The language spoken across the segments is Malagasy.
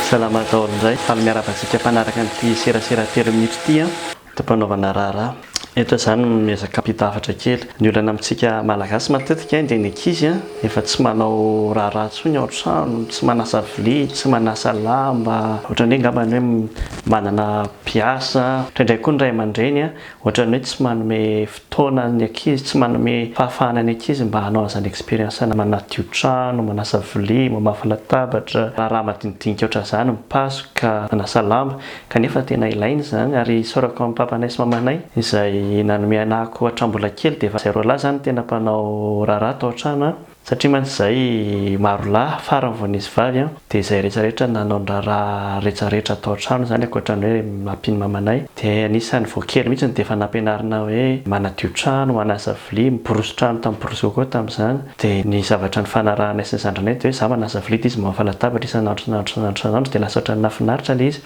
Salama daholo indray, faly miarahaba antsika mpanaraka an'ity serasera telo minitra ity an. Tompanaovana raharaha. Eto izaho no miezaka hampita hafatra kely. Ny olana amintsika Malagasy matetika dia ny ankizy an, efa tsy manao raharaha intsony ao an-trano, tsy manasa vilia, tsy manasa lamba, ohatran'ny hoe angamba ny hoe manana mpiasa, indraindray koa ny ray aman-dreny an, Ohatran'ny hoe tsy manome fotoana ny ankizy, tsy manome fahafahana ny ankizy mba hanao an'izany expérience na manadio trano, manasa vilia, mamafa latabatra, raharaha madinidinika ohatran'izany, mipasoka, manasa lamba. Kanefa tena ilaina izany ary isaorako an'i papanay sy mamanay izay nanome anahako hatramin'ny mbola kely dia efa zay roa lahy izany tena mpanao raharaha tao an-trano an! Satria mantsy izay maro lahy farany vao nisy vavy an, dia izay rehetra rehetra nanao ny raharaha rehetra rehetra tao an-trano izany ankoatra ny hoe mampino ny mamanay dia anisany vao kely mihitsy no dia efa nampianarina hoe manadio trano, manasa vilia, miborosy trano tamin'ny borosy coco tamin'izany dia ny zavatra nifanarahanay sy ny zandrinay dia hoe za manasa vilia dia izy mamofa latabatra isan'andro isan'andro isan'andro isan'andro dia lasa ohatran'ny nahafinaritra ilay izy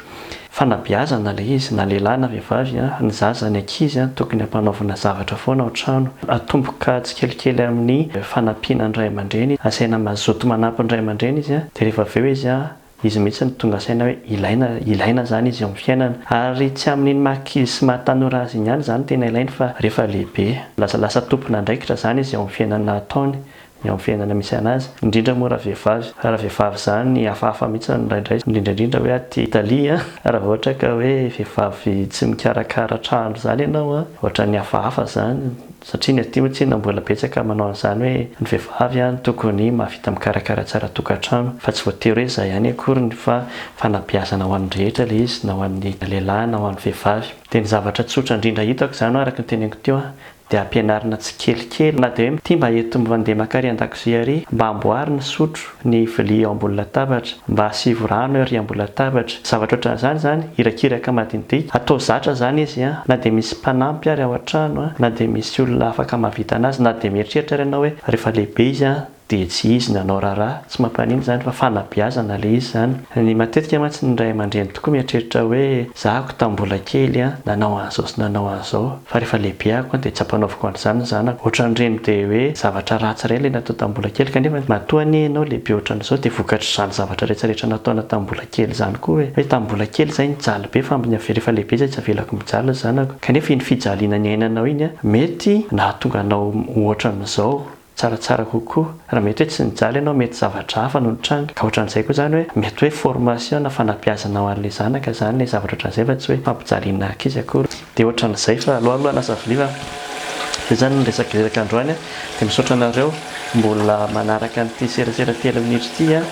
Fanabeazana ilay izy na lehilahy na vehivavy a, ny zaza ny ankizy a tokony ampanaovina zavatra foana ao an-trano, atomboka tsikelikely amin'ny fanampiana ny ray aman-dreny, asaina mazoto manampy ny ray aman-dreny izy a, dia rehefa avy eo izy a, izy mihitsy no tonga saina hoe ilaina, ilaina izany izy eo amin'ny fiainana, ary tsy amin'iny maha ankizy sy maha tanora azy iny ihany izany tena ilainy fa rehefa lehibe, lasa lasa tompon'andraikitra izany izy eo amin'ny fiainana ataony eo amin'ny fiainana misy anazy, indrindra moa raha vehivavy, raha vehivavy izany hafahafa mihitsy ny indraindray, indrindra indrindra hoe aty Italie an, raha vao ohatra ka hoe vehivavy tsy mikarakara trano izany ianao an, ohatran'ny hafahafa izany, satria ny aty moa tsinona mbola betsaka manao an'izany hoe ny vehivavy an no tokony mahavita mikarakara tsara tokantrano, fa tsy voatery hoe izay ihany akoriny fa fanabeazana ho an'ny rehetra ilay izy na ho an'ny lehilahy na ho an'ny vehivavy, dia ny zavatra tsotra indrindra hitako izany an araka ny teneniko teo an, dia ampianarina tsikelikely na dia hoe mty mba eto mandeha maka ary andakozia ary mba amboary ny sotro, ny vilia eo ambony latabatra, mba asivo rano eo ary ambony latabatra, zavatra ohatran'izany izany, irakiraka madinidinika, atao zatra izany izy an, na dia misy mpanampy ary ao an-trano an, na dia misy olona afaka mahavita an'azy, na dia mieritreritra ary ianao hoe rehefa lehibe izy an, Dia tsy izy nanao raharaha, tsy mampanino izany fa fanabeazana ilay izy izany. Ny matetika mantsy ny ray aman-dreny tokoa mieritreritra hoe zahako tamin'ny mbola kely an, nanao an'izao sy nanao an'izao, fa rehefa lehibehako an dia tsy ampanaoviko an'izany ny zanako. Ohatran'ireny dia hoe zavatra ratsy ireny ilay natao tamin'ny mbola kely kanefa matoa anie ianao lehibe ohatran'izao dia vokatr'izany zavatra rehetra rehetra nataonao tamin'ny mbola kely izany koa hoe hoe tamin'ny mbola kely izay nijaly be fa amin'ny rehefa lehibe izay tsy avelako mijaly ny zanako kanefa iny fijaliana niainanao iny an mety nahatonga anao ho ohatran'izao Tsaratsara kokoa raha mety hoe tsy nijaly ianao mety zavatra hafa no nitranga ka ohatran'izay koa izany hoe mety hoe formation na fanabeazana ho an'ilay zanaka izany ilay zavatra ohatran'izay fa tsy hoe fampijaliana ankizy akory dia ohatran'izay fa alohaaloha lasa vilia fa izay izany no resaka iraka androany a dia misaotra anareo mbola manaraka an'ity serasera telo minitra ity a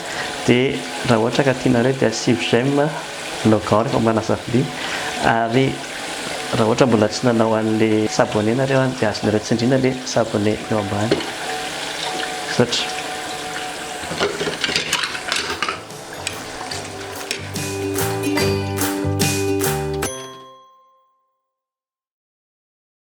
dia raha ohatra ka tianareo dia asivo j'aime logao rehefa manasa vilia ary Raha ohatra mbola tsy nanao anle s'abonner nareo any dia azonareo tsindrina le s'abonner eo ambany. Misaotra.